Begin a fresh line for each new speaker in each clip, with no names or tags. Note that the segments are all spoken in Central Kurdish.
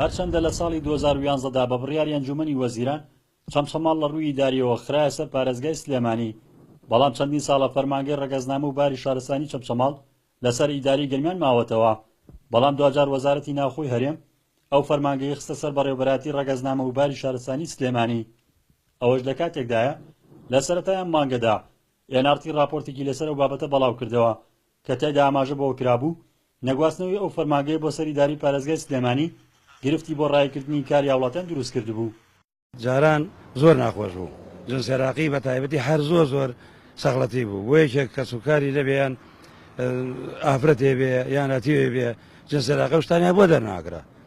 هەرچەندە لە ساڵی دوو هەزار و یازدە دا بە بڕیاری ئەنجوومەنی وەزیران چەمچەماڵ لە ڕووی ئیدارییەوە خرایە سەر پارێزگای سلێمانی بەڵام چەندین ساڵە فەرمانگەی ڕەگەزنامە و باری شارستانی چەمچەماڵ لەسەر ئیدارەی گەرمیان ماوەتەوە بەڵام دواجار وەزارەتی ناوخۆی هەرێم ئەو فەرمانگەی خستە سەر بەڕێوەبەرایەتی ڕەگەزنامە و باری شارستانی سلێمانی ئەوەش لە کاتێکدایە لە سەرەتای ئەم مانگەدا ئێنارتی ڕاپۆرتێکی لەسەر ئەو بابەتە بەڵاو کردەوە کە تێدا ئاماژە بەوە کرابوو، نەگواستنەوەی ئەو فەرمانگەیە بۆ سەر ئیدارەی پارێزگای سلێمانی، گرفتی بۆ راییکردنی کاری هاوڵاتیان دروست کردبوو. جاران
زۆر ناخۆش بوو. جونس ئێراقی بە تایبەتی هەر زۆر زۆر سەغڵەتی بوو. بۆ یەکێک کەسوکاری نەبێ یان ئافرەتێ بێ یان ئەتیوێ بێ، جونس ئێراقی ئەو شتانەیان بۆ دەرناکرا.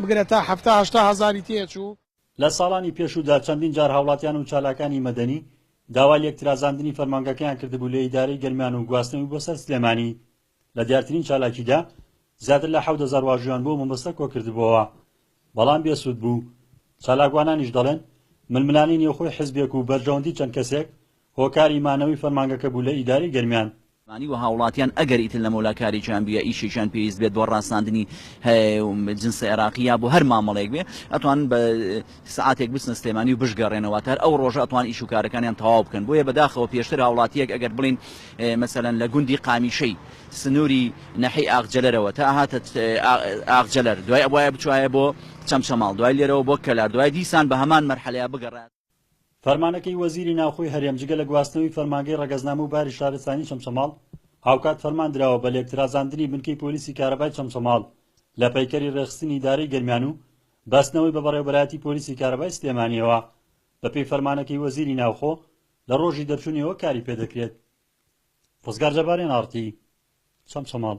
بگرە تا حەفتا هەشتا هەزاری تێچوو. لە ساڵانی
پێشوودا چەندین جار هاوڵاتیان و چالاکانی مەدەنی داوای لێکترازاندنی فەرمانگەکەیان کردبوو لە ئیدارەی گەرمیان و گواستنەوەی بۆ سەر سلێمانی، لە دیارترین چالاکیدا زیاتر لە حەوت هەزار واژویان بۆ مەبەستە کۆکردبۆوە بەڵام بێ سوود بوو، چالاکوانانیش دەڵێن ململانێی نێوخۆی حزبێک و بەرژەوەندی چەند کەسێک، هۆکاری مانەوەی فەرمانگەکە بوو لە ئیدارەی گەرمیان. مانی و هاوڵاتیان
ئەگەر ئیتر لە مەولا کارێکیان بوو یا ئیشێکیان پێویست بێت بۆ ڕاساندنی هەێ جنسە ئێراقی یا بۆ هەر مامەڵەیەک بێ ئەتوانن بە سعاتێک بچنە سلێمانی و بشگەڕێنە واتە هەر ئەو ڕۆژە ئەتوان ئیش و کارەکانیان تەواو بکەن بۆیە بەداخەوە پێشتر هاوڵاتیەک ئەگەر بڵێن مەسەلەن لە گوندی قامیشەی سنوری ناحیەی ئاغجەلەرەوە تا ئەهاتە ئاغجەلەر دوای ئەبوایە بچوایە بۆ چەمچەماڵ دوای لێرەوە بۆ کەلار دوای دیسان بە هەمان مەرحەلەیا بگەڕایە فەرمانەکەی
وەزیری ناوخۆی هەرێم جگە لە گواستنەوەی فەرمانگەی ڕەگەزنامە و باری شارستانی چەمچەماڵ، هاوکات فەرمان دراوە بە لێکترازاندنی بنکەی پۆلیسی کارەبای چەمچەماڵ لە پەیکەری ڕێکخستنی ئیدارەی گەرمیان و بەستنەوەی بە بەڕێوەبەرایەتی پۆلیسی کارەبای سلێمانییەوە. بەپێی فەرمانەکەی وەزیری ناوخۆ، لە ڕۆژی دەرچوونیەوە کاری پێدەکرێت. ڕزگار جەبارێن ئاڕتی چەمچەماڵ.